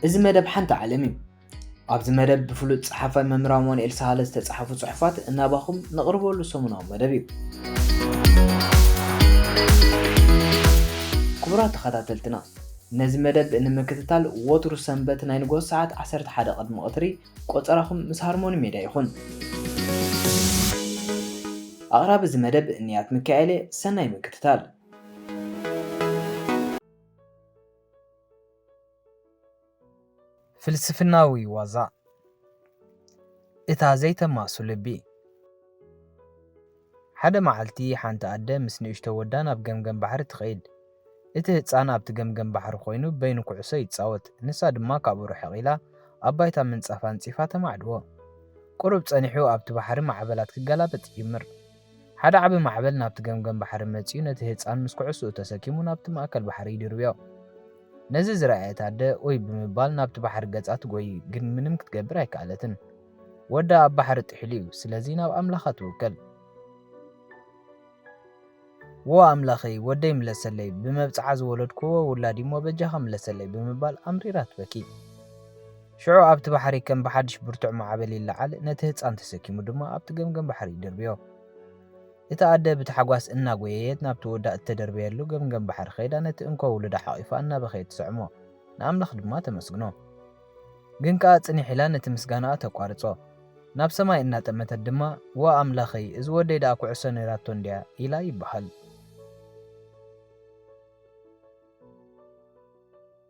እዚ መደብ ሓንቲ ዓለም እዩ። ኣብዚ መደብ ብፍሉጥ ጸሓፋይ መምህር ኣማኑኤል ሳህለ ዝተጻሕፉ ጽሑፋት እናባኹም ነቕርበሉ ሰሙናዊ መደብ እዩ። ክቡራት ተኸታተልትና ነዚ መደብ ንምክትታል ወትሩ ሰንበት ናይ ንግሆ ሰዓት 11 ቅድሚ ቐትሪ ቆጸራኹም ምስ ሃርሞኒ ሜድያ ይኹን። ኣቕራቢ እዚ መደብ ንያት ሚካኤል'የ፣ ሰናይ ምክትታል። ፍልስፍናዊ ዋዛ እታ ዘይተማሱ ልቢ። ሓደ መዓልቲ ሓንቲ ኣደ ምስ ንእሽቶ ወዳ ናብ ገምገም ባሕሪ ትኸይድ። እቲ ህጻን ኣብቲ ገምገም ባሕሪ ኮይኑ በይኑ ኩዕሶ ይጻወት፣ ንሳ ድማ ካብኡ ርሕቕ ኢላ ኣብ ባይታ ምንጻፍ ኣንጺፋ ተማዕድዎ። ቁሩብ ጸኒሑ ኣብቲ ባሕሪ ማዕበላት ክገላበጥ ይጅምር። ሓደ ዓቢ ማዕበል ናብቲ ገምገም ባሕሪ መጺኡ ነቲ ህጻን ምስ ኩዕሶኡ ተሰኪሙ ናብቲ ማእከል ባሕሪ ይድርብዮ። ነዚ ዝረኣየት ኣደ ኡይ ብምባል ናብቲ ባሕሪ ገጻ ትጎዪ ግን ምንም ክትገብር ኣይከኣለትን። ወዳ ኣብ ባሕሪ ጥሒሉ እዩ ስለዚ ናብ ኣምላኻ ትውከል። ዎ ኣምላኸይ ወደይ ምለሰለይ ብመብጽዓ ዝወለድክዎ ውላድ እዩሞ በጃኻ ምለሰለይ ብምባል ኣምሪራ ትበኪ። ሽዑ ኣብቲ ባሕሪ ከም ብሓድሽ ብርቱዕ ማዕበል ይለዓል ነቲ ህጻን ተሰኪሙ ድማ ኣብቲ ገምገም ባሕሪ ይድርብዮ። እቲ ኣደ ብታሕጓስ እናጎየየት ናብቲ ወዳ እተደርበየሉ ገምገም ባሕሪ ከይዳ ነቲ እንኮ ውሉዳ ሓቒፋ እናበኸየት ትስዕሞ ንኣምላኽ ድማ ተመስግኖ። ግን ከኣ ጽኒሕ ኢላ ነቲ ምስጋናኣ ተቋርጾ። ናብ ሰማይ እናጠመተት ድማ ዋእ ኣምላኸይ እዚ ወደይ ደኣ ኩዕሶ ነይራቶ እንድያ ኢላ ይበሃል።